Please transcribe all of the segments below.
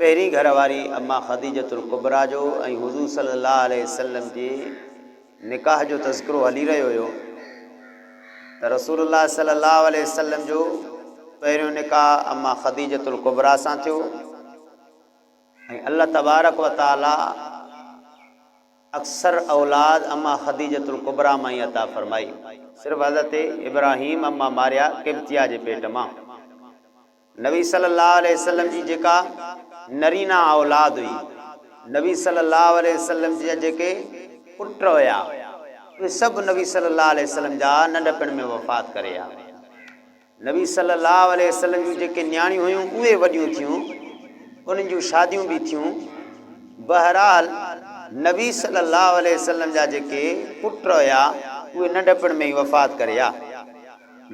پهرين گهر واري اما خديجة الڪبريٰ جو ۽ حضور صلي الله عليه وسلم جي نڪاح جو تذڪرو هلي رهيو هيو ته رسول الله صلي الله عليه وسلم جو پهريون نڪاح اما خديجة الڪبريٰ سان ٿيو ۽ الله تبارڪ و تعاليٰ اڪثر اولاد اما خديجة الڪبريٰ مان ئي عطا فرمائي. صرف حضرت ابراهيم اما ماريا قبطيه جي پيٽ مان. نبي صلي الله عليه وسلم جي جيڪا نرينا اولاد هئي، نبي صلي الله عليه وسلم جا جيڪي پٽ هيا، اهي سڀ نبي صلي الله عليه وسلم جا ننڍپڻ ۾ وفات ڪري ويا. نبي صلي الله عليه وسلم جون جيڪي نياڻيون هيون اهي وڏيون ٿيون، انهن جون شاديون به ٿيون. بهرحال نبي صلي الله عليه وسلم جا جيڪي پٽ هيا، اهي ننڍپڻ ۾ ئي وفات ڪري ويا.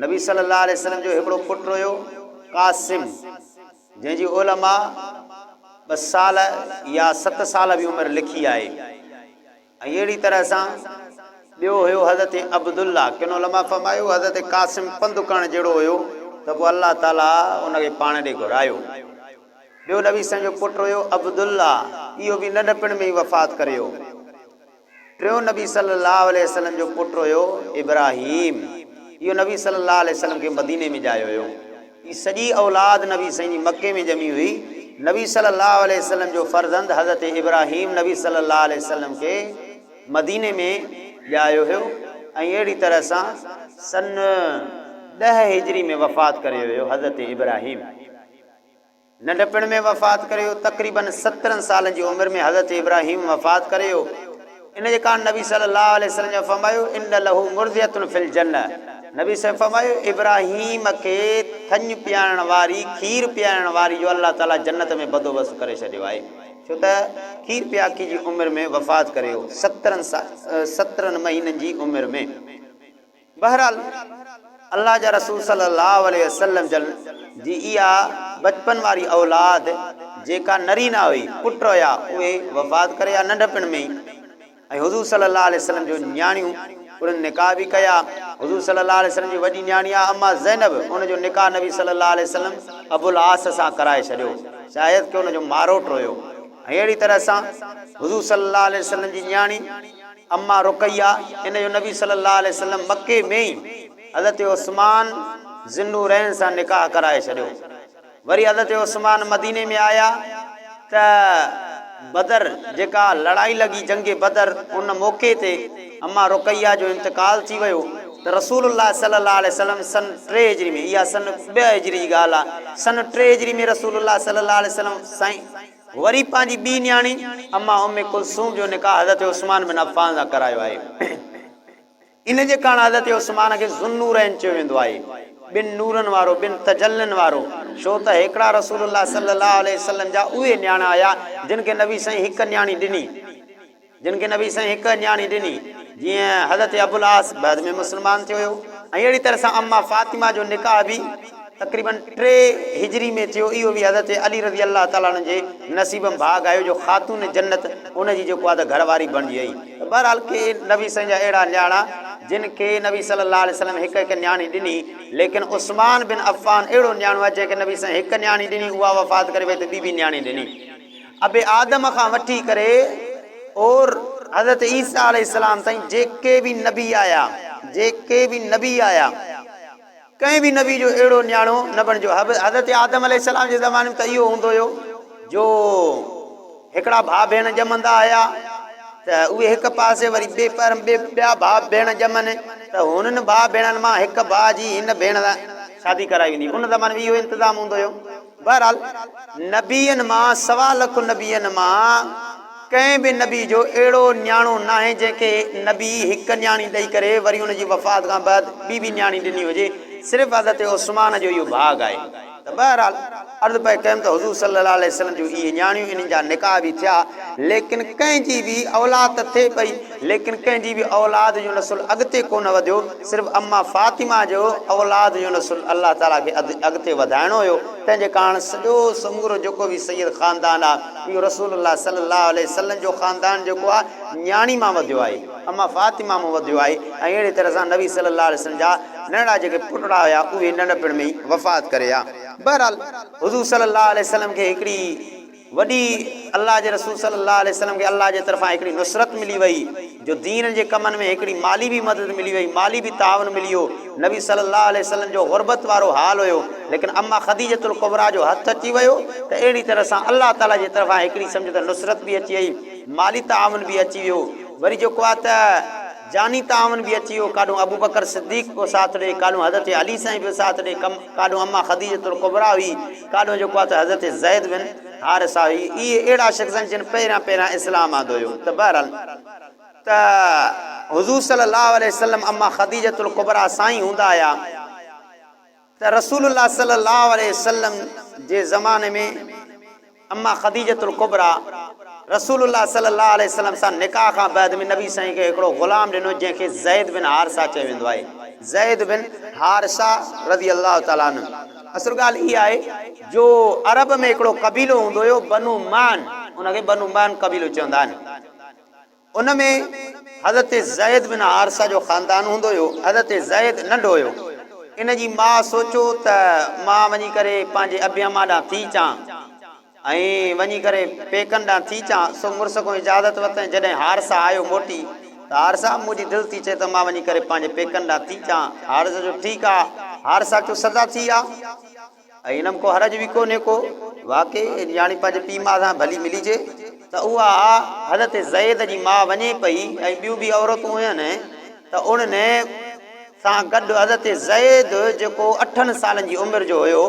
نبي صلي الله عليه وسلم جو هڪڙو پٽ هيو قاسم جنهن جي علماء ٻه سال يا ست سال به عمر لکي آهي ۽ اهڙي طرح سان ٻيو هيو حضرت عبدالله ڪن علماء فرمايو حضرت قاسم پنڌ ڪرڻ جهڙو هيو ته پوء الله تعالي ان کي پاڻ ڏي گهرايو ٻيو نبي سن جو پٽ هيو عبدالله اهو به ننڍپڻ ۾ ئي وفات ڪري ويو ٽيون نبي صلّي اللّٰه عليه وسلّم جو پٽ هيو ابراهيم. اهو نبي صلّي اللّٰه عليه وسلّم کي مديني ۾ ڄايو هيو. هي سڄي اولاد نبي سائين جي مڪي ۾ ڄمي هئي. نبي صلّي اللّٰه عليه وسلّم جو فرزند حضرت ابراهيم نبي صلّي اللّٰه عليه وسلّم کي مديني ۾ ڄايو هيو ۽ اهڙي طرح سان سن ڏهه هجري ۾ وفات ڪري ويو حضرت ابراهيم. ننڍپڻ ۾ وفات ڪري ويو، تقريباً سترهن سالن جي عمر ۾ حضرت ابراهيم وفات ڪري ويو، ان جي ڪارڻ نبي صلي الله عليه وسلم جن فرمايو، ان له مرضعة في الجنة، نبي صلي فرمايو، ابراهيم کي ٿڃ پيارڻ واري، کير پيارڻ واري جو الله تعالي جنت ۾ بدوبست ڪري ڇڏيو آهي، ڇو ته کير پياڪي جي عمر ۾ وفات ڪري ويو، سترهن سترهن مهينن جي عمر ۾. بهرحال الله جا رسول صلي الله عليه وسلم جن جي اها ٻچپن واري اولاد جيڪا نري نه هئي، پٽ هيا، اهي وفات ڪري ويا ننڍپڻ ۾ ئي ۽ حضور صلي الله عليه وسلم جون نياڻيون انهن نڪاح به ڪيا. حضور صلي الله عليه وسلم جي وڏي نياڻي آ اما زينب ان جو نڪاح نبي صلي الله عليه وسلم ابو العاص سان ڪرائي ڇڏيو شايد ڪي ان جو ماروٽ هيو ۽ اهڙي طرح سان حضور صلي الله عليه وسلم جي نياڻي امّا رقيه ان جو نبي صلّي اللّٰه عليه وسلّم مڪي ۾ ئي حضرت عثمان ذوالنورين سان نڪاح ڪرائي ڇڏيو. وري حضرت عثمان مديني ۾ آيا ته بدر جيڪا لڙائي لڳي جنگ بدر ان موقعي تي امّا رقيه جو انتقال ٿي ويو ته رسول الله صلّي اللّٰه عليه وسلّم سن ٽي هجري ۾ اها سن ٻه هجري جي ڳالهه آهي سن ٽي هجري ۾ رسول الله صلّي اللّٰه عليه وسلّم سائين وري پنهنجي ٻي نياڻي اما ام ڪلثوم جو نڪاح حضرت عثمان بن عفان سان ڪرايو آهي. ان جي ڪارڻ حضرت عثمان کي ذوالنورين چيو ويندو آهي. ٻن نورن وارو، ٻن تجلين وارو، ڇو ته هيڪڙا رسول الله صلي الله عليه وسلم جا اهي نياڻا هيا جن کي نبي سائين هڪ نياڻي ڏني. جن کي نبي سائين هڪ نياڻي ڏني جيئن حضرت ابوالعاص بعد ۾ مسلمان ٿيو هيو ۽ اهڙي طرح سان اما فاطمه جو نڪاح به تقريباً ٽي هجري ۾ ٿيو اهو به حضرت علي رضي الله تعالٰي عنه جي نصيب ۾ ڀاڳ آيو جو خاتون جنت ان جي جيڪو آ ته گهر واري بڻجي آئي ته بهرحال ڪي نبي سائين جا اهڙا نياڻا جن کي نبي صلي الله عليه وسلم هڪ هڪ نياڻي ڏني ليڪن عثمان بن عفان اهڙو نياڻو آ جنهن کي نبي سائين هڪ نياڻي ڏني اها وفات ڪري وئي ته ٻي ٻي نياڻي ڏني ابي آدم کان وٺي ڪري اور حضرت عيسيٰ عليه السلام تائين جيڪي به نبي آيا جيڪي به نبي آيا ڪنهن به نبي جو اهڙو نياڻو نه بڻجو حضرت آدم عليه السلام جي زماني ۾ ته اهو هوندو هيو جو هڪڙا ڀاء ڀيڻ ڄمندا هيا ته اهي هڪ پاسي وري ٻي پر ٻيا ڀاء ڀيڻ ڄمن ته هنن ڀاء ڀيڻن مان هڪ ڀاء جي هن ڀيڻ سان شادي ڪرائي ويندي ان زماني ۾ اهو انتظام هوندو هيو بهرحال نبين مان سوا لک نبين مان ڪنهن به نبي جو اهڙو نياڻو ناهي جنهن کي نبي هڪ نياڻي ڏئي ڪري وري ان جي وفات کان بعد ٻي به نياڻي ڏني هجي صرف حضرت عثمان جو اهو ڀاڳ آهي ته بهرحال عرض پئي ڪيم ته حضور صلي الله عليه وسلم جون اهي نياڻيون انهن جا نڪاح به ٿيا ليڪن ڪنهن جي به اولاد ته ٿئي پئي ليڪن ڪنهن جي به اولاد جو نسل اڳتي ڪونه وڌيو، صرف اما فاطمه جو اولاد جو نسل الله تعاليٰ کي اڳتي وڌائڻو هيو، تنهن جي ڪاڻ سڄو سمورو جيڪو به سيد خاندان آ، اهو رسول الله صلي الله عليه وسلم جو خاندان جيڪو آ، نياڻي مان وڌيو آهي، اما فاطمه مون وڌيو آهي ۽ اهڙي طرح سان نبي صلي الله عليه وسلم جا ننڍڙا جيڪي پٽڙا هيا، اهي ننڍپڻ ۾ ئي وفات ڪري ويا. بهرحال حضور صلي الله عليه وسلم کي هڪڙي. وڏي الله جي رسول صلي الله عليه وسلم کي الله جي طرفان هڪڙي نصرت ملي وئي جو دين جي ڪمن ۾ هڪڙي مالي به مدد ملي وئي مالي به تعاون ملي ويو نبي صلي الله عليه وسلم جو غربت وارو حال هيو ليڪن اما خديجة الڪبريٰ جو هٿ اچي ويو ته اهڙي طرح سان الله تعالي جي طرفان هڪڙي سمجهه ته نصرت به اچي وئي مالي تعاون به اچي ويو وري جيڪو آهي ته جاني تعاون به اچي ويو ڪاڏهون ابوبڪر صديق پيو ساٿ ڏي ڪاڏهون حضرت علي سائين پيو ساٿ ڏي ڪاڏهون اما خديجة الڪبريٰ هئي ڪاڏو جيڪو آهي ته حضرت زيد بن حارثه هي اهي اهڙا شخص آهن جن پهريان پهريان اسلام آندو هيو ته بهرحال ته حضور صلي الله عليه وسلم اما خديجة الڪبريٰ سائين هوندا هيا ته رسول الله صلي الله عليه وسلم جي زماني ۾ اما خديجة الڪبريٰ رسول الله صلي الله عليه وسلم سان نڪاح کان بعد ۾ نبي سائين کي هڪڙو غلام ڏنو جنهن کي زيد بن حارثه چيو ويندو آهي زيد بن حارثه رضي الله تعالٰي عنه اصل ڳالهه اها آهي جو عرب ۾ هڪڙو قبيلو هوندو هيو بنو معن، ان کي بنو معن قبيلو چوندا آهن. ان ۾ حضرت زيد بن حارثه جو خاندان هوندو هيو. حضرت زيد ننڍو هيو. ان جي ماء سوچيو ته مان وڃي ڪري پنهنجي ابي اما ڏانهن ٿي اچان. ائين وڃي ڪري پيڪن ڏانهن ٿي چان سو مڙس کان اجازت ورتائين جڏهن هارسا آيو موٽي ته هارسا منهنجي دل ٿي چئي ته مان وڃي ڪري پنهنجي پيڪن ڏانهن ٿي چان هارسا چيو ٺيڪ آ هارسا چيو سدا ٿي آ ۽ ان ۾ ڪو حرج به ڪونهي ڪو واقعي نياڻي پنهنجي پيء ماء سان ڀلي ملجي ته اها آ حضرت زيد جي ماء وڃي پئي ۽ ٻيون به عورتون هين ته انهن سان گڏ حضرت زيد جيڪو اٺن سالن جي عمر جو هيو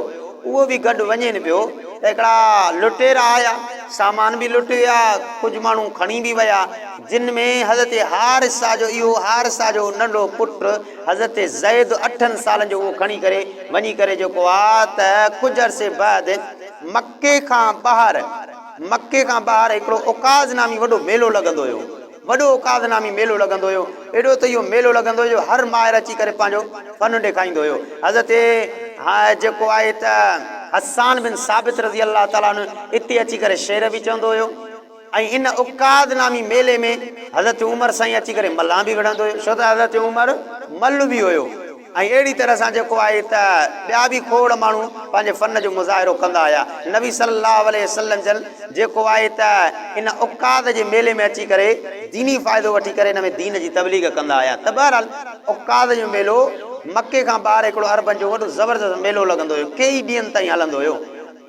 اهو به گڏ وڃين پيو ته هڪڙا لٽيرا آيا سامان به لٽي ويا ڪجهه ماڻهو کڻي به ويا جن ۾ حضرت حارثه جو اهو حارثه جو ننڍو پٽ حضرت زيد اٺن سالن جو اهو کڻي ڪري وڃي ڪري جيڪو آ ته ڪجهه عرصي بعد مڪي کان ٻاهر مڪي کان ٻاهر هڪڙو عڪاظ نامي وڏو ميلو لڳندو هيو. وڏو اوقاذ نامي ميلو لڳندو هيو. ايڏو ته اهو ميلو لڳندو هيو جو هر ماهر اچي ڪري پنهنجو فن ڏيکائيندو هيو. حضرت جيڪو آهي ته حسان بن ثابت رضي الله تعالٰي عنه اتي اچي ڪري شعر به چوندو هيو ۽ ان اوقاذ نامي ميلي ۾ حضرت عمر سائين اچي ڪري ملان به وڙهندو هيو. ڇو ته حضرت عمر مل به هيو. ۽ اهڙي طرح سان جيڪو آهي ته ٻيا به کوڙ ماڻهو پنهنجي فن جو مظاهرو ڪندا آيا. نبي صلي الله عليه وسلم جن جيڪو آهي ته ان عڪاظ جي ميلي ۾ اچي ڪري ديني فائدو وٺي ڪري ان ۾ دين جي تبليغ ڪندا آيا ته بهرحال عڪاظ جو ميلو مڪي کان ٻاهر هڪڙو عربن جو وڏو زبردست ميلو لڳندو هيو ڪيئي ڏينهن تائين هلندو هيو.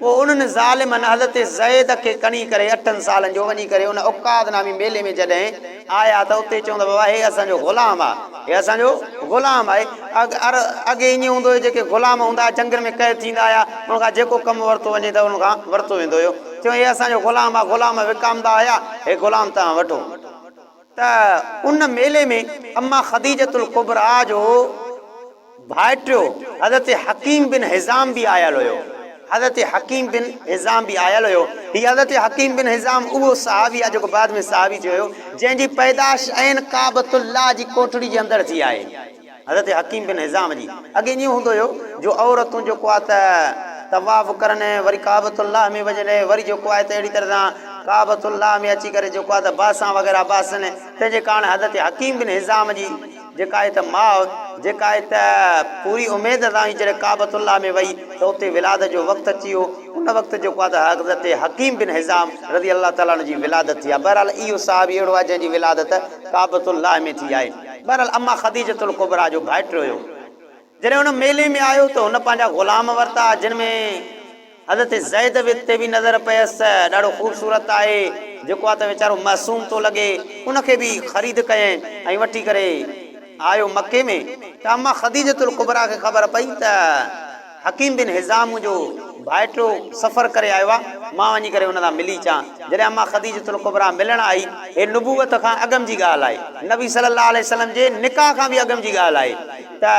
پوء انهن ظالمن حضرت زيد کي کڻي ڪري اٺن سالن جو وڃي ڪري ان عڪاظ نامي ميلي ۾ جڏهن آيا ته اتي چون ته بابا هي اسان جو غلام آ هي اسان جو غلام آهي اڳي ائين هوندو هيو جيڪي غلام هوندا هيا جنگن ۾ قيد ٿيندا هيا انهن کان جيڪو ڪم ورتو وڃي ته انهن کان ورتو ويندو هيو چون هي اسان جو غلام آ غلام وڪامندا هيا هي غلام توهان وٺو. ته ان ميلي ۾ اما خديجة الڪبريٰ جو ڀائٽيو حضرت حڪيم بن حزام به آيل هيو. حضرت حڪيم بن حزام به آيل هيو. هي حضرت حڪيم بن حزام اهو صحابي آهي جيڪو بعد ۾ صحابي ٿيو هيو، جنهن جي پيدائش عين ڪعبة الله جي ڪوٽڙي جي اندر ٿي آهي. حضرت حڪيم بن حزام جي اڳي ائين هوندو هيو جو عورتون جيڪو آهي ته طواف ڪرن وري ڪعبة الله ۾ وڃن وري جيڪو آهي ته اهڙي طرح سان ڪعبة الله ۾ اچي ڪري جيڪو آهي ته باسان وغيره باسن تنهن جي ڪارڻ حضرت حڪيم بن حزام جي جيڪا آهي ته ماء جيڪا آهي ته پوري اميد سان هئي جڏهن ڪعبة الله ۾ وئي ته اتي ولادت جو وقت اچي ويو ان وقت جيڪو آهي ته حضرت حڪيم بن حزام رضي الله تعالٰي عنه جي ولادت ٿي آهي بهرحال اهو صحابي اهڙو آهي جنهن جي ولادت ڪعبة الله ۾ ٿي آهي. بهرحال اما خديجة الڪبريٰ جو ڀائٽ رويو. جڏهن هن ميلي ۾ آيو ته هن پنهنجا غلام ورتا جن ۾ حضرت زيد به تي به نظر پيس ته ڏاڍو خوبصورت آهي جيڪو آ ته ويچارو معصوم ٿو لڳي ان کي به خريد ڪيئن ۽ وٺي ڪري آيو مڪي ۾ ته اما خديجة الڪبريٰ کي خبر پئي ته حڪيم بن حزام منهنجو ڀائٽو سفر ڪري آيو آهي، مان وڃي ڪري ان سان ملي اچان. جڏهن امّا خديجة الڪبريٰ ملڻ آئي، هي نبوت کان اڳم جي ڳالهه آهي، نبي صلّي الله عليه وسلّم جي نڪاح کان به اڳم جي ڳالهه آهي ته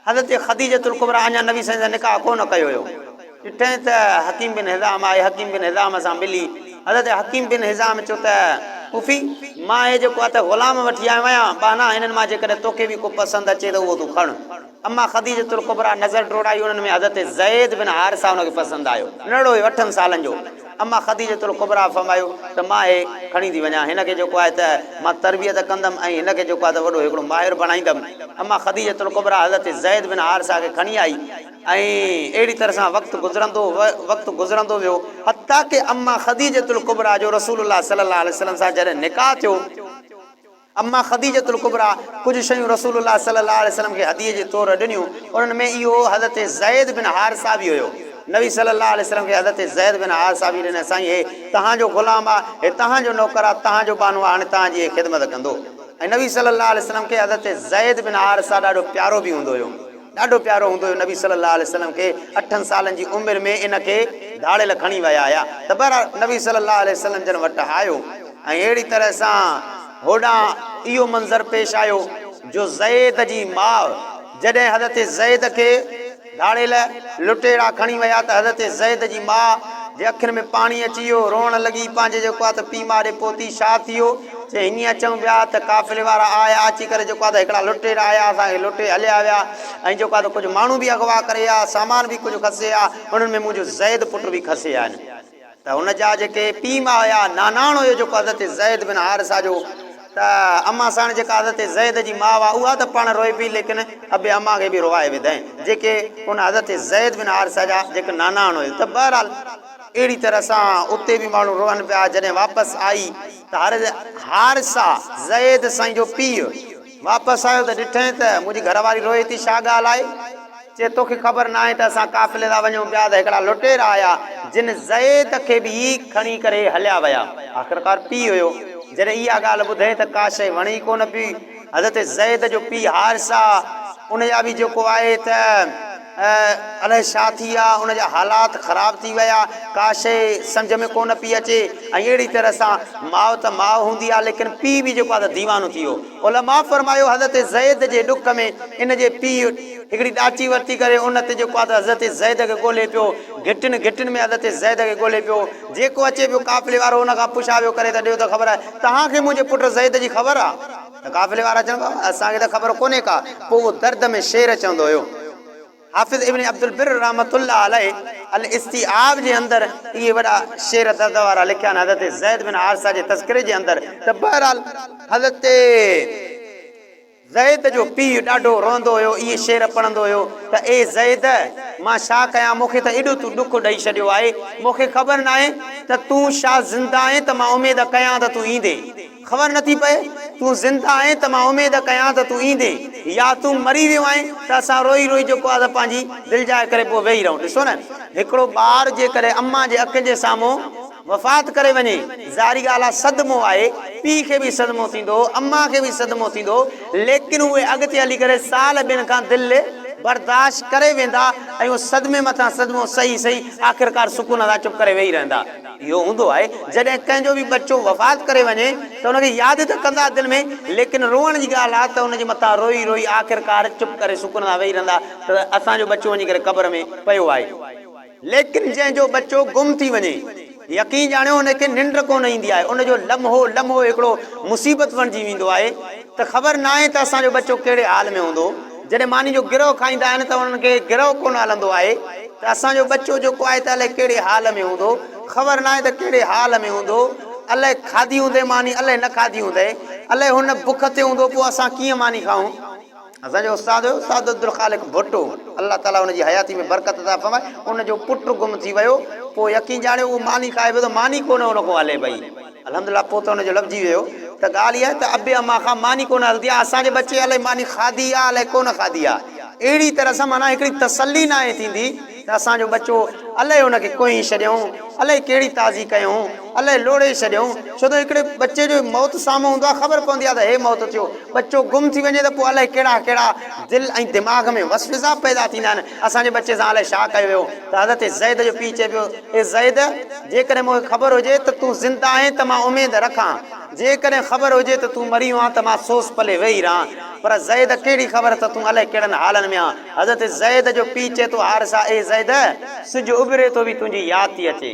حضرت خديجة الڪبريٰ اڃا نبي صلّي الله عليه وسلّم سان نڪاح ڪو نه ڪيو هيو. ڏٺئين ته حڪيم بن حزام آهي، حڪيم بن حزام سان ملي، حضرت حڪيم بن حزام چيو ته پڦي! مان هي جيڪو هٿ غلام وٺي آيو آهيان، ٻانها هنن مان جيڪڏهن توکي به ڪو پسند اچي ته اهو تون کڻ. اما خديجة الڪبريٰ نظر ڊوڙائي انهن ۾ حضرت زيد بن حارثه ان کي پسند آيو. ننڍڙو هيو اٺن سالن جو. اما خديجة الڪبريٰ فرمايو ته مان هي کڻي ٿي وڃان هن کي جيڪو آهي ته مان تربيت ڪندم ۽ هن کي جيڪو آهي ته وڏو هڪڙو ماهر بڻائيندم. اما خديجة الڪبريٰ حضرت زيد بن حارثه کي کڻي آئي ۽ اهڙي طرح سان وقت گذرندو وقت گذرندو ويو حتيٰ ڪه اما خديجة الڪبريٰ جو رسول الله صلي الله عليه وسلم سان جڏهن نڪاح ٿيو امّا خديجة الڪبريٰ ڪجهه شيون رسول الله صلّي الله عليه وسلّم کي هديي جي طور ڏنيون، انهن ۾ اهو حضرت زيد بن حارثه به هيو. نبي صلّي الله عليه وسلّم کي حضرت زيد بن حارثه به ڏني، سائين هي توهان جو غلام آ، هي توهان جو نوڪر آ، توهان جو ٻانهو آ، هاڻي توهان جي هي خدمت ڪندو. ۽ نبي صلّي الله عليه وسلّم کي حضرت زيد بن حارثه ڏاڍو پيارو به هوندو هيو. ڏاڍو پيارو هوندو هيو نبي صلي الله عليه وسلم کي اٺن سالن جي عمر ۾ ان کي ڌاڙيل کڻي ويا هيا ته بهرحال نبي صلي الله عليه وسلم جن وٽ آيو ۽ اهڙي طرح سان هوڏانهن اهو منظر پيش آيو جو زيد جي ماء جڏهن حضرت زيد کي ڌاڙيل لٽيرا کڻي ويا ته حضرت زيد جي ماء جي اکين ۾ پاڻي اچي ويو روئڻ لڳي پنهنجي جيڪو آ ته پيء ماء ڏي پوتي شاد ٿي ويو چي هينئن اچون پيا ته قافلي وارا آيا، اچي ڪري جيڪو آهي ته هڪڙا لٽيرا آيا، اسان کي لٽي هليا ويا ۽ جيڪو آهي ته ڪجهه ماڻهو به اغوا ڪري ويا، سامان به ڪجهه کسي ويا، انهن ۾ منهنجو زيد پٽ به کسي ويا آهن. ته هن جا جيڪي پيء ماء هيا، ناناڻو هيو جيڪو حضرت زيد بن حارثه جو، ته امان ساڻ جيڪا حضرت زيد جي ماء هئا، اها ته پاڻ روئي پئي ليڪن ابي امان کي به روئائي وڌائين، جيڪي ان حضرت زيد بن حارثه جا جيڪي ناناڻو هيو، ته بهرحال! اهڙي طرح سان اتي به ماڻهو روئن پيا. جڏهن واپس آئي ته هر حارثه، زيد سائين جو پيء، واپس آيو ته ڏٺئين ته منهنجي گهر واري روئي ٿي، ڇا ڳالهه آهي؟ چي توکي خبر ناهي ته اسان قافلي سان وڃون پيا ته هڪڙا لٽيرا آيا، جن زيد کي به ئي کڻي ڪري هليا ويا. آخرڪار پيء هيو. جڏهن اها ڳالهه ٻڌئين ته ڪا شيء وڻي ئي ڪونه پئي. حضرت زيد جو پيء حارثه ان جا به جيڪو آهي ته الائي ڇا ٿي ويا ان جا حالات خراب ٿي ويا ڪا شيء سمجهه ۾ ڪونه پئي اچي ۽ اهڙي طرح سان ماء ته ماء هوندي آهي ليڪن پيء به جيڪو آهي ته ديوانو ٿي ويو علماء فرمايو حضرت زيد جي ڏک ۾ ان جي پيء هڪڙي ڏاچي ورتي ڪري ان تي جيڪو آهي ته حضرت زيد کي ڳولي پيو گهٽين گهٽين ۾ حضرت زيد کي ڳولي پيو جيڪو اچي پيو قافلي وارو ان کان پڇا پيو ڪري ته ڏيو ته خبر آهي تهان کي منهنجي پٽ زيد جي خبر آهي. ته قافلي وارا چون ٿا، اسان کي ته خبر ڪونهي ڪا. پوء اهو درد ۾ شعر چوندو هيو. حافظ ابن عبدالبر رحمة الله عليه الاستيعاب جي اندر اهي وڏا شعر درد وارا لکيا آهن حضرت زيد بن حارثه جي تذڪري جي اندر ته بهرحال حضرت زيد جو پيء ڏاڍو روئندو هيو اهي شعر پڙهندو هيو ته اي زيد مان ڇا ڪيان مون کي ته ايڏو تون ڏک ڏئي ڇڏيو آهي مون کي خبر ناهي ته تون شا زنده آهين ته مان اميد ڪيان ته تون ايندين. خبر نه ٿي پئي، تون زنده آهين ته مان اميد ڪيان ته تون ايندين يا تون مري ويو آهين ته اسان روئي روئي جيڪو آهي سا پنهنجي دلجاء ڪري پوء ويهي رهون. ڏسو نه هڪڙو ٻار جيڪڏهن امان جي اکين جي سامهون وفات ڪري وڃي، ظاهري ڳالهه آهي صدمو آهي، پيء کي به صدمو ٿيندو، امان کي به صدمو ٿيندو، ليڪن اهي اڳتي هلي ڪري سال ٻن کان دل برداشت ڪري ويندا ۽ اهو صدمي مٿان صدمو سهي سهي آخرڪار سڪون سان چپ ڪري ويهي رهندا. اهو هوندو آهي جڏهن ڪنهن جو به ٻچو وفات ڪري وڃي ته ان کي ياد ته ڪندا دل ۾ ليڪن روئڻ جي ڳالهه آ ته ان جي مٿان روئي روئي آخرڪار چپ ڪري سڪون سان ويهي رهندا ته اسان جو ٻچو وڃي ڪري قبر ۾ پيو آهي ليڪن جنهن جو ٻچو گم ٿي وڃي يقين ڄاڻيو ان کي ننڊ ڪونه ايندي آهي ان جو لمحو لمحو هڪڙو مصيبت بڻجي ويندو آهي. ته خبر ناهي ته اسان جو ٻچو ڪهڙي حال ۾ هوندو. جڏهن ماني جو گرهه کائيندا آهن ته انهن کي گرهه ڪونه هلندو آهي ته اسان جو ٻچو جيڪو آهي ته الائي ڪهڙي حال ۾ هوندو. خبر ناهي ته ڪهڙي حال ۾ هوندو. الائي کاڌي هوندئي ماني الائي نه کاڌي هوندئي. الائي هو نه بک تي هوندو پوء اسان ڪيئن ماني کائون. اسان جو استاد هيو استاد عبدالخالق ڀٽو الله تعاليٰ ان جي حياتي ۾ برڪت عطا فرمائي. ان جو پٽ گم ٿي ويو. پوء يقين ڄاڻيو اهو ماني کائي پيو ته ماني ڪونه ان کان هلي پئي. الحمد لله پوء ته ان جو لڀجي ويو ته ڳالهه اها ته ابي اما کان ماني ڪونه هلندي آهي اسان جي ٻچي الائي ماني کاڌي آهي الائي ڪونه کاڌي آهي اهڙي طرح سان معنيٰ هڪڙي تسلي ناهي ٿيندي ته اسان جو ٻچو الائي ان کي ڪوهي ڇڏيائون الائي ڪهڙي تازي ڪيائون الائي لوڙهي ڇڏيائون ڇو ته هڪڙي ٻچي جو موت سامهون هوندو آهي خبر پوندي آهي ته هي موت ٿيو ٻچو گم ٿي وڃي ته پوء الائي ڪهڙا ڪهڙا دل ۽ دماغ ۾ وسوسا پيدا ٿيندا آهن اسان جي ٻچي سان الائي ڇا ڪيو ويو ته حضرت زيد جو پيء چئي پيو، اي زيد! جيڪڏهن مون کي خبر هجي ته تون زنده آهين ته مان اميد رکان، جيڪڏهن خبر هجي ته تون مريو آن ته مان سوز پلي ويهي رهان، پر زيد ڪهڙي خبر ته تون الائي ڪهڙن حالن ۾ آن. حضرت زيد جو پيء چئي ٿو، حارثه! اي زيد! سج اڀري ٿو وي تنهنجي ياد ٿي اچي.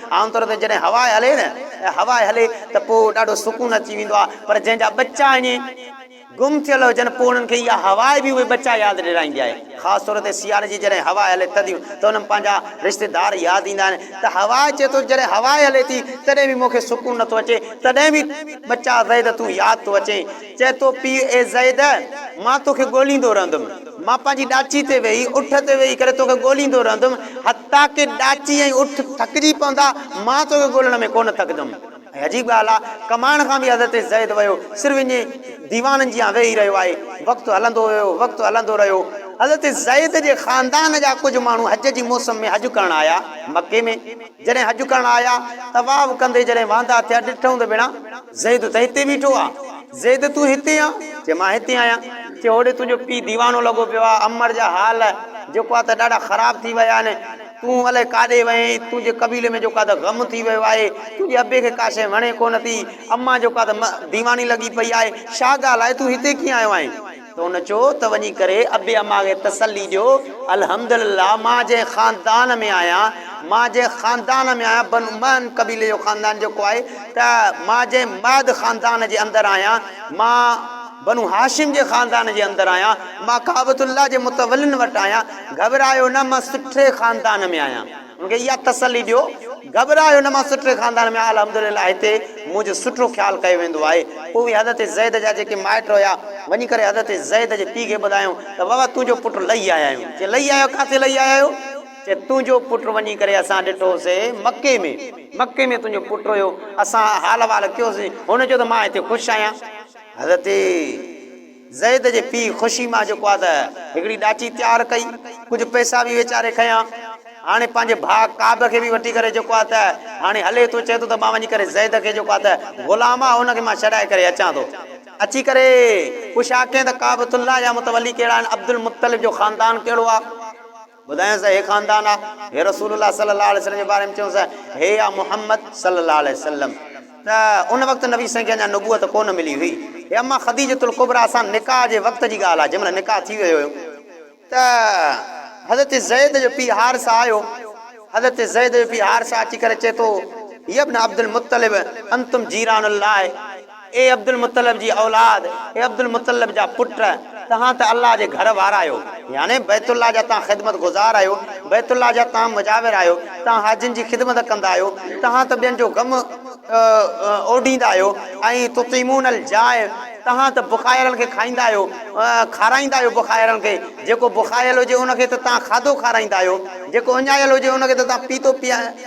عام طور تي جڏهن هوا هلي نه ۽ هوا هلي ته پوء ڏاڍو سڪون اچي ويندو آهي پر جنهن جا ٻچا ائين گم ٿيل هجن پوء انهن کي اها هوا به اهي ٻچا ياد ڏيرائيندي آهي خاص طور تي سياري جي جڏهن هوا هلي ٿڌيون ته انهن پنهنجا رشتيدار ياد ايندا آهن ته هوا چئي ٿو جڏهن هوا هلي ٿي تڏهن به مون کي سڪون نٿو اچي تڏهن به ٻچا زيد تون ياد ٿو اچين چئي ٿو پيء اي زيد مان توکي ڳوليندو رهندم مان پنهنجي ڏاچي تي ويهي اٺ تي ويهي ڪري توکي ڳوليندو رهندم تاڪي ڏاچي ۽ اٺ ٿڪجي پوندا، مان توکي ڳولڻ ۾ ڪونه ٿڪجم. ۽ عجيب ڳالهه آ، ڪمائڻ کان به حضرت زيد ويو، صرف اڃي ديوانن جيان ويهي رهيو آهي. وقت هلندو ويو، وقت هلندو رهيو. حضرت زيد جي خاندان جا ڪجهه ماڻهو حج جي موسم ۾ حج ڪرڻ آيا، مڪي ۾. جڏهن حج ڪرڻ آيا، طواف ڪندي جڏهن واندا ٿيا، ڏٺئون ته ڀيڻا! زيد، ته هتي بيٺو آ؟ زيد، تون هتي آن؟ چي، مان هتي آهيان. چي، هوڏي تنهنجو پيء ديوانو لڳو پيو آ. عمر جا حال جيڪو آ ته ڏاڍا خراب ٿي ويا آهن. تون الائي ڪاڏي وئين؟ تنهنجي قبيلي ۾ جيڪو آ ته غم ٿي ويو آهي. تنهنجي ابي کي ڪا شيء وڻي ڪونه ٿي. امان جيڪو آ ته م ديواني لڳي پئي آهي. شاهه ڳالهاء، تون هتي ڪيئن آيو آهين؟ ته ان چيو ته وڃي ڪري ابي اما کي تسلي ڏيو الحمدلله مان جنهن خاندان ۾ آهيان مان جنهن خاندان ۾ آهيان بنو مهن قبيلي جو خاندان جيڪو آهي ته مان جنهن مهد خاندان جي اندر آهيان مان بنو هاشم جي خاندان جي اندر آهيان مان ڪعبة الله جي متولين وٽ آهيان گهٻرايو نه مان سٺي خاندان ۾ آهيان. مون کي اها تسلي ڏيو، گهٻرايو نه مان سٺڙي خاندان ۾ آيل الحمدلله هتي منهنجو سٺو خيال ڪيو ويندو آهي. پوء اهي حضرت زيد جا جيڪي مائٽ هيا وڃي ڪري حضرت زيد جي پيء کي ٻڌايائون ته بابا تنهنجو پٽ لهي آيا آهيون. چي لهي آيا آهيو ڪاٿي لهي آيا آهيو؟ چي تنهنجو پٽ وڃي ڪري اسان ڏٺو سي مڪي ۾. مڪي ۾ تنهنجو پٽ هيو اسان حال احوال ڪيوسين هن چيو ته مان هتي خوش آهيان. حضرت. زيد جي پيء خوشي مان جيڪو آ ته هڪڙي ڏاچي تيار ڪئي، ڪجهه پئسا به ويچاري کنيا. هاڻي پنهنجي ڀاء ڪعب کي به وٺي ڪري جيڪو آ ته هاڻي هلي ٿو، چئي ٿو ته مان وڃي ڪري زيد کي جيڪو آ ته غلام آ ان کي مان ڇڏائي ڪري اچان ٿو. اچي ڪري پڇان ڪين ته ڪعبة الله جا متولي ڪهڙا آهن، عبدالمطلب جو خاندان ڪهڙو آ. ٻڌايائونس ته هي خاندان آ. هي رسول الله صلي الله عليه وسلم جي باري ۾ چيائونس ته هي آ محمد صلي الله عليه وسلم. ته ان وقت نبي سائين کي اڃا نبوت ڪونه ملي هئي. هي اما خديجة الڪبريٰ سان نڪاح جي وقت جي ڳالهه آ، جنهن مهل نڪاح ٿي ويو هيو ته حضرت زيد جو پيء حارثه آيو. حضرت زيد جو پيء حارثه اچي ڪري چئي ٿو، يا ابن عبدالمطلب انتم جيران الله. اي عبدالمطلب جي اولاد، اي عبدالمطلب جا پٽ، تهان ته الله جي گهر وارا آهيو، يعني بيت الله جا تهان خدمت گذار آهيو، بيت الله جا تهان مجاور آهيو، تهان حاجين جي خدمت ڪندا آهيو، تهان ته ٻين جو غم اوڍيندا آهيو ۽ تطعمون الجائع، تهان ته بکايل کي کائيندا آهيو، کارائيندا آهيو بکايل کي، جيڪو بکايل هجي ان کي ته تهان کاڌو کارائيندا آهيو، جيڪو اڃايل هجي ان کي ته تهان پيتو پيا.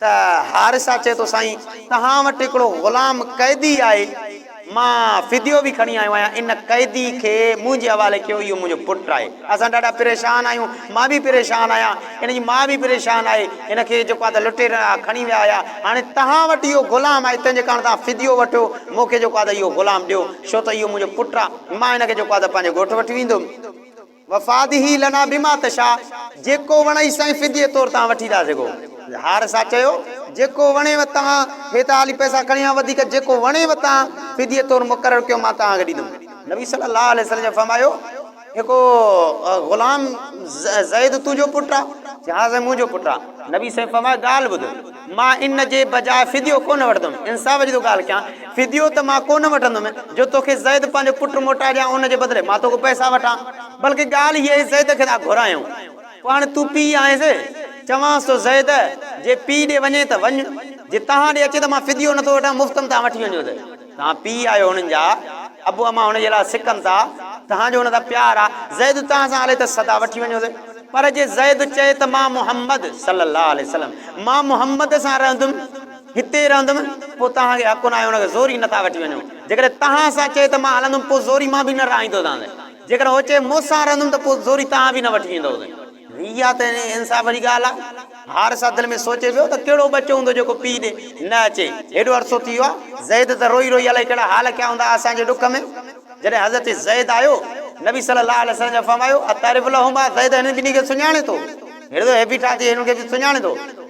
ته حارثه چئي ٿو سائين توهان وٽ هڪڙو غلام قيدي آهي مان فديو به کڻي آيو آهيان ان قيدي کي منهنجي حوالي ڪيو اهو منهنجو پٽ آهي اسان ڏاڍا پريشان آهيون مان به پريشان آهيان ان جي ماء به پريشان آهي هن کي جيڪو آهي ته لٽيرن کڻي ويا هيا هاڻي توهان وٽ اهو غلام آهي تنهن جي ڪارڻ توهان فديو وٺو مون کي جيڪو آهي ته اهو غلام ڏيو ڇو ته اهو منهنجو پٽ آهي مان هن کي جيڪو آهي ته پنهنجي ڳوٺ وٺي ويندم. وفاده لنا بما تشاء جيڪو وڻئي سائين فديي طور توهان وٺي ٿا سگهو. هار سا چيو، جيڪو وڻيو توهان هي ته هالي پئسا کڻي آيو وڌيڪ جيڪو وڻيو توهان فديي طور مقرر ڪيو مان توهان کي ڏيندم. نبي صلي الله عليه وسلم جن فرمايو، هڪ غلام زيد تنهنجو پٽ آ؟ چيائنس منهنجو پٽ آ. نبي سائين فرمايو ڳالهه ٻڌ. مان ان جي بجاء فديو ڪونه وٺندم. انصاف جي ٿو ڳالهه ڪيان. فديو ته مان ڪونه وٺندم جو توکي زيد پنهنجو پٽ موٽائي ڏيان ان جي بدلي مان توکان پئسا وٺان. بلڪ ڳالهه هيء آهي زيد کي ٿا گهرايون. پوء هاڻي تون پيء آهينس. چوانس ٿو زيد جي پيء ڏي وڃين ته وڃ. جي توهان ڏي اچي ته مان فديو نه ٿو وٺان مفت ۾ توهان وٺي وڃو ته. توهان پيء آهيو هنن جا، ابو امان هن جي لاء سڪن ٿا، توهان جو هن سان پيار آ، زيد توهان سان هلي ته سدا وٺي وڃو ٿي، پر جي زيد چئي ته مان محمد، صلّي اللّٰه عليه وسلّم، مان محمد سان رهندم، هتي رهندم، پوء توهان کي حق ناهي هن کي زوري نه ٿا وٺي وڃو، جيڪڏهن توهان سان چئي ته مان هلندم پوء زوري مان به نه رهائيندوسانس، جيڪڏهن هو چئي مون سان رهندم ته پوء زوري توهان به نه وٺي ويندوسين. اها ته انصاف واري ڳالهه آ. حارثه دل ۾ سوچي پيو ته ڪهڙو ٻچو هوندو جيڪو پيء ڏي نه اچي. هيڏو عرصو ٿي ويو آ. زيد ته روئي روئي الائي ڪهڙا حال ڪيا هوندا اسان جي ڏک ۾. جڏهن حضرت زيد آيو، نبي صلي الله عليه وسلم جن فرمايو، اتعرف لهما، زيد هنن ٻنهي کي سڃاڻين ٿو؟ هيڏو ته هي بيٺا ٿي هنن کي به سڃاڻين ٿو؟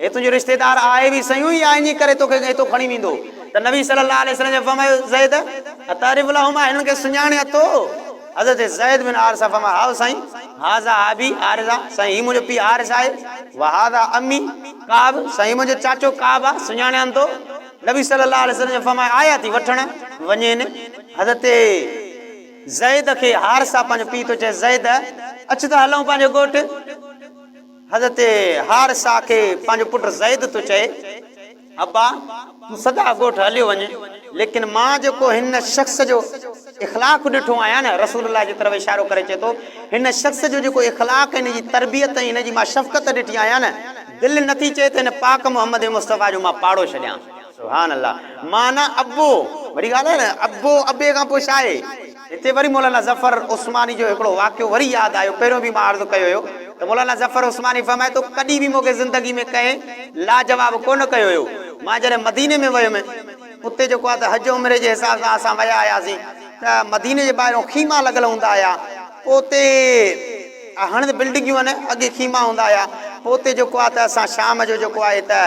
هي تنهنجو رشتيدار آهي به سيون يا انهيء ڪري تو کي هتو کڻي ويندو؟ ته نبي صلي الله عليه وسلم فرمايو، زيد! اتعرف لهما، هنن کي سڃاڻين اٿو؟ حضرت زيد بن حارثه فرمايو، هائو سائين! هذا ابي حارثه، سائين هي منهنجو پيء حارثه آهي، وهذا عمي ڪعب، سائين هي منهنجو چاچو ڪعب آهي، سڃاڻين ٿو؟ نبي صلي الله عليه وسلم فرمايو، آيا ٿي وٺڻ وڃين. حضرت زيد کي حارثه پنهنجو پيء ٿو چئي، زيد! اچ ته هلون پنهنجي ڳوٺ. حضرت حارثه کي پنهنجو پٽ زيد ٿو چئي، ابا! تون سدا ڳوٺ هليو وڃ، ليڪن مان جيڪو هن شخص جو اخلاق ڏٺو آهيان نه، رسول الله جي طرف اشارو ڪري چئي ٿو، هن شخص جو جيڪو اخلاق ۽ هن جي تربيت ۽ هن جي مان شفقت ڏٺي آهيان نه، دل نه ٿي چئي ته هن پاڪ محمد مصطفيٰ جو مان پاڙو ڇڏيان. سبحان الله! معنيٰ ابو! وڏي ڳالهه آهي نه، ابو، ابي کان پوء ڇا آهي؟ هتي وري مولانا ظفر عثماني جو هڪڙو واقعو وري ياد آيو، پهريون به مان عرض ڪيو هيو ته مولانا ظفر عثماني فرمائي ٿو ڪڏهن به مون کي زندگي ۾ ڪنهن لاجواب ڪونه ڪيو هيو، مان جڏهن مديني ۾ ويم اتي جيڪو آهي ته حج عمري جي حساب سان اسان ويا هياسين ته مديني جي ٻاهرون خيما لڳل هوندا هيا، پوء اتي. هاڻي ته بلڊنگيون آهن اڳي خيما هوندا هيا پوء اتي جيڪو آهي ته اسان شام جو جيڪو آهي ته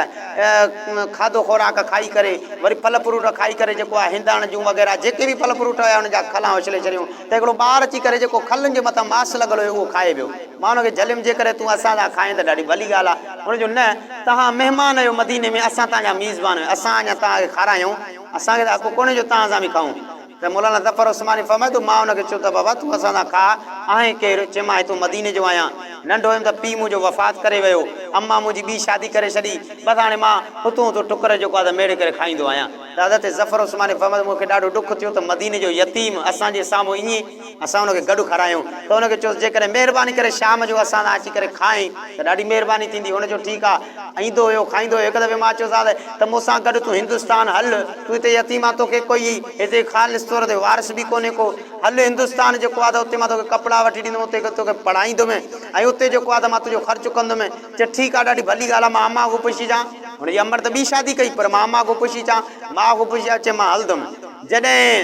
کاڌو خوراڪ کائي ڪري وري ڦل فروٽ کائي ڪري جيڪو آهي هنداڻ جون وغيره جيڪي به ڦل فروٽ هيا ان جا کلان اڇلي ڇڏيون ته هڪڙو ٻار اچي ڪري جيڪو کلن جي مٿان ماس لڳل هيو اهو کائي ويو مان ان کي جهليم جي ڪري تون اسان سان کائين ته ڏاڍي ڀلي ڳالهه آهي هن چيو نه توهان مهمان آهيو مديني ۾ اسان توهان جا ميزبان آهيون اسان اڃا توهان کي کارايون اسان کي ته حق ڪونهي جو توهان سان به کائون ته مولانا ظفر عثماني فرمائي ٿو، مان ان کي چيو ته بابا تون اسان سان ڪا آهين ڪير؟ چيمانس تون مديني جو آهيان، ننڍو هيم ته پيء منهنجو وفات ڪري ويو، اما منهنجي ٻي شادي ڪري ڇڏي، بس هاڻي مان هتو هتو ٽڪر جيڪو آهي ته ميڙي ڪري کائيندو آهيان. ته حضرت ظفر عثماني فرمائي ٿو، مون کي ڏاڍو ڏک ٿيو ته مديني جو يتيم اسان جي سامهون ائين اسان ان کي گڏ کارايون ته ان کي چيوس جيڪڏهن مهرباني ڪري شام جو اسان سان اچي ڪري کائين ته ڏاڍي مهرباني ٿيندي. هن چيو ٺيڪ آهي. ايندو هيو کائيندو هيو. هڪ دفعي مان چيوس ها ته مون سان گڏ تون هندستان هل. تون هتي يتيم آهين توکي ڪوئي هتي خالص طور تي وارث به ڪونهي ڪو. هل هندستان جيڪو آهي ته اتي مان توکي ڪپڙا وٺي ڏيندومين اتي توکي پڙهائيندومين ۽ اتي جيڪو آهي ته مان تنهنجو خرچ ڪندومين. چيو ٺيڪ آهي ڏاڍي ڀلي ڳالهه آهي مان امان کان پڇي اچان. هن جي امڙ ته ٻي شادي ڪئي پر مان امان کان پڇي اچان. ماء کان پڇي آيو چيائين مان هلندومين. جڏهن.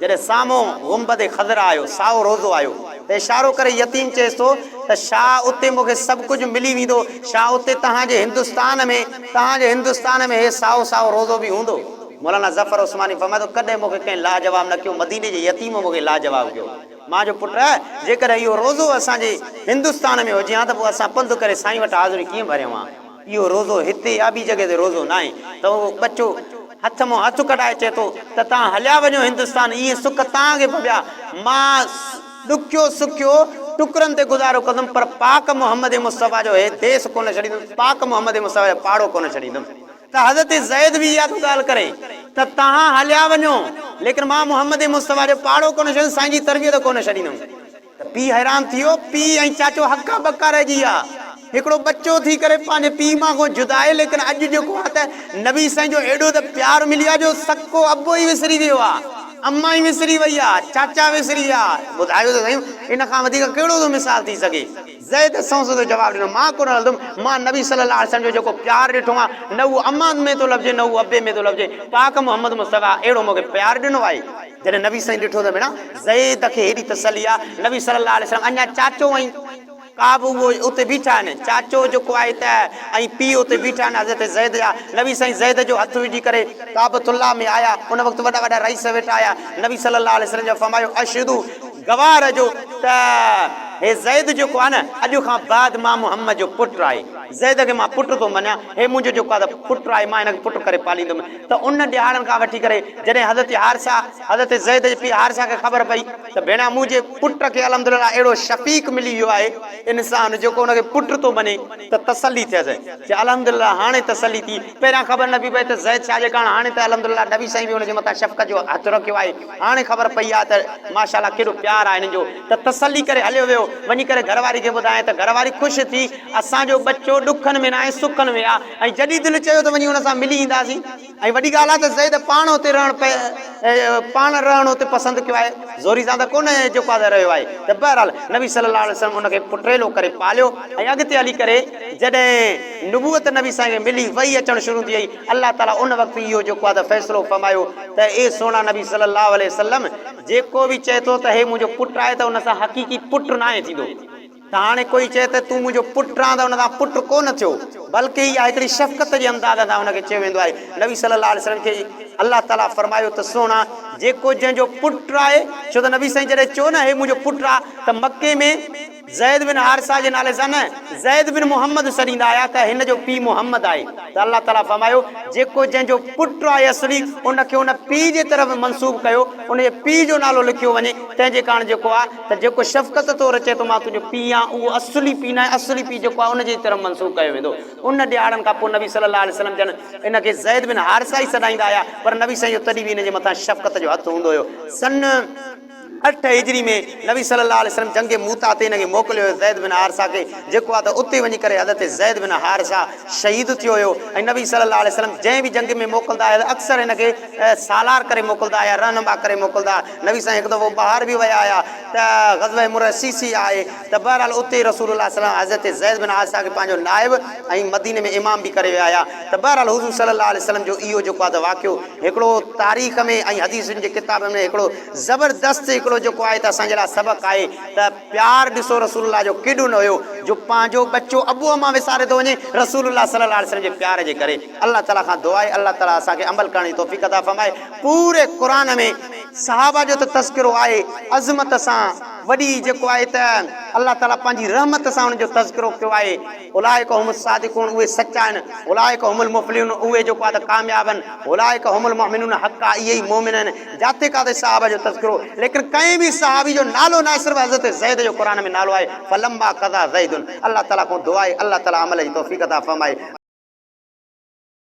جڏهن سامهون گنبد خضرا آيو، سائو روضو آيو ته اشارو ڪري يتيم چيس ٿو ته شاهه اتي مون کي سڀ ڪجهه ملي ويندو، شاهه اتي توهان جي هندستان ۾، توهان جي هندستان ۾ هي سائو سائو روضو به هوندو. مولانا ظفر عثماني فرمائي ٿو ڪڏهن مون کي ڪنهن لاجواب نه ڪيو، مديني جي يتيم مون کي لاجواب ڪيو. مان چيو پٽ! جيڪڏهن اهو روضو اسان جي هندستان ۾ هجي هان ته پوء اسان پنڌ ڪري سائين وٽ حاضري ڪيئن ڀريون هان؟ اهو روزو هتي يا ٻي جڳهه تي روزو ناهي ته اهو ٻچو هٿ مان هٿ ڪڍائي چئي ٿو ته توهان هليا وڃو هندستان اهي سک توهان کي ڀوڳيا مان ڏکيو سکيو ٽڪرن تي گذارو ڪندم پر پاڪ محمد مصطفيٰ جو هي ديس ڪونه ڇڏيندم پاڪ محمد مصطفيٰ جو پاڙو ڪونه ڇڏيندم ته حضرت زيد به اها ٿو ڳالهه ڪري ته توهان هليا وڃو ليڪن مان محمد مصطفيٰ جو پاڙو ڪونه ڇڏيندم سائين جي تربيت ڪونه ڇڏيندم. ته پيء حيران ٿي ويو. پيء ۽ چاچو هڪا ٻڪا رهجي ويا. هڪڙو ٻچو ٿي ڪري پنهنجي پيء ماء کان جدا آهي ليڪن اڄ جيڪو آ ته نبي سائين جو ايڏو ته پيار ملي آ جو سڪو ابو ئي وسري ويو آ. امان ئي وسري وئي آ. چاچا وسري ويا. ٻڌايو ته سهيون ان کان وڌيڪ ڪهڙو ٿو مثال ٿي سگهي. زيد سون سڌو جواب ڏنو، مان ڪونه هلندم. مان نبي صلي الله عليه وسلم جو جيڪو پيار ڏٺو آ نه اهو امان ۾ ٿو لڀجي نه اهو ابي ۾ ٿو لڀجي. پاڪ محمد مصطفيٰ اهڙو مون کي پيار ڏنو آهي. جڏهن نبي سائين ڏٺو ته ڀيڻا زيد کي هيڏي تسلي آ، نبي صلي الله عليه وسلم اڃا چاچو ۽ ڪعب اهو اتي بيٺا آهن، چاچو جيڪو آهي ته ۽ پيء اتي بيٺا آهن حضرت زيد جا، نبي سائين زيد جو هٿ وجهي ڪري ڪعبة الله ۾ آيا، ان وقت وڏا وڏا رئيس ويٺا هيا، نبي صلي الله عليه وسلم جا فرمايو اشهدو گواهه رهجو ته هي زيد جيڪو آهي نه اڄ کان بعد مان محمد جو پٽ آهي، زيد کي مان پٽ ٿو مڃان، هي منهنجو جيڪو آهي ته پٽ آهي مان هن کي پٽ ڪري پاليندم، ته انهن ڏيهاڙن کان وٺي ڪري جڏهن حضرت حارثه، حضرت زيد جي پيء حارثه کي خبر پئي ته ڀيڻا منهنجي پٽ کي الحمدلله اهڙو شفيق ملي ويو آهي، انسان جيڪو ان کي پٽ ٿو مڃي ته تسلي ٿيس چي الحمدلله هاڻي تسلي ٿي، پهريان خبر نه پئي پئي ته زيد ڇا جي ڪارڻ هاڻي ته الحمدلله نبي سائين به ان جي مٿان شفقت جو هٿ رکيو آهي، هاڻي خبر پئي آهي ته ماشاءالله ڪيڏو پيار آهي هنن جو ته تسلي ڪري هليو ويو وڃي ڪري گهر واري کي ٻڌائين ته گهر واري خوش ٿي اسان جو ٻچو ڏکن ۾ ناهي سکن ۾ آ. ۽ جڏهن دل چيو ته وڃي هن سان ملي اينداسين ۽ وڏي ڳالهه آهي ته زيد پاڻ اتي رهڻ پاڻ رهڻ اتي پسند ڪيو آهي زوري سان ته ڪونه جيڪو آهي سا رهيو آهي ته بهرحال نبي صلي الله عليه وسلم ان کي پٽڙيلو ڪري پاليو ۽ اڳتي هلي ڪري جڏهن نبوت نبي سائين کي ملي وحي اچڻ شروع ٿي وئي الله تعالي ان وقت اهو جيڪو آهي ته فيصلو فرمايو ته اي سهڻا نبي صلي الله عليه وسلم جيڪو به چئي ٿو ته هي منهنجو پٽ آهي ته ان سان حقيقي پٽ ناهي ٿيندو. ته هاڻي ڪوئي چئي ته تون منهنجو پٽ آن ته ان سان پٽ ڪو نه ٿيو بلڪه اها هڪڙي شفقت جي انداز سان ان کي چيو ويندو آهي نبي صلي الله عليه وسلم کي الله تعالي فرمايو ته سهڻا جيڪو جنهن جو پٽ آهي ڇو ته نبي سائين جڏهن چيو نه هي منهنجو پٽ آ ته مڪي ۾ زيد بن حارثه جي نالي سان نه زيد بن محمد سڏيندا هيا ته هن جو پي محمد آهي ته الله تعالي فرمايو جيڪو جنهن جو پٽ آهي اصلي ان کي ان پي جي طرف منسوب ڪيو ان جي پي جو نالو لکيو وڃي تنهن جي ڪاڻ جيڪو آ ته جيڪو شفقت طور چئي ٿو مان تنهنجو پيء آهيان اهو اصلي پيء ناهي، اصلي پيء جيڪو آهي ان جي طرف منسوب ڪيو ويندو. ان ڏهاڙن کان پوء نبي صلي الله عليه وسلم جن ان کي زيد بن حارثه ئي سڏائيندا هيا پر نبي سائين جو تڏهن به ان جي مٿان شفقت جو هٿ هوندو هيو. سن اٺ هجري ۾ نبي صلي الله عليه وسلم جنگ موته تي ان کي موڪليو هيو زيد بن حارثه کي جيڪو آهي ته اتي وڃي ڪري حضرت زيد بن حارثه شهيد ٿيو هيو ۽ نبي صلي الله عليه وسلم جنهن به جنگ ۾ موڪلدا هيا ته اڪثر ان کي سالار ڪري موڪلدا هيا رهنما ڪري موڪلدا نبي سائين هڪ دفعو ٻاهر به ويا هيا ته غزوه مريسيسي آهي ته بهرحال اتي رسول الله صلي الله عليه وسلم حضرت زيد بن حارثه کي پنهنجو نائب ۽ مديني ۾ امام به ڪري ويا هيا ته بهرحال حضور صلي الله عليه وسلم جو اهو جيڪو آهي ته واقعو هڪڙو تاريخ ۾ ۽ حديثن جي ڪتابن ۾ هڪڙو زبردست هڪڙو جيڪو آهي ته اسان جي لاء سبق آهي ته پيار ڏسو رسول الله جو ڪيڏو نه هيو جو پنهنجو ٻچو ابو امان وساري ٿو وڃي رسول الله صلي الله عليه وسلم جي پيار جي ڪري الله تعالي کان دعا آهي الله تعالي اسان کي عمل ڪرڻ جي توفيق عطا فرمائي پوري قرآن ۾ صحابه جو ته تذڪرو آهي عظمت سان وڏي جيڪو آهي ته الله تعالي پنهنجي رحمت سان انهن جو تذڪرو ڪيو آهي اولئک هم الصادقون اهي سچا آهن اولئک هم المفلحون اهي جيڪو آهي ته ڪامياب آهن اولئک هم المؤمنون حقا اهي ئي مؤمن آهن. جاتي ڪاتي صحابه جو تذڪرو ليڪن ڪنهن به صحابي جو نالو ناهي صرف حضرت زيد جو قرآن ۾ نالو آهي فلما قضا زيد الله تعالي کان دعا آهي الله تعالي عمل جي توفيق عطا فرمائي.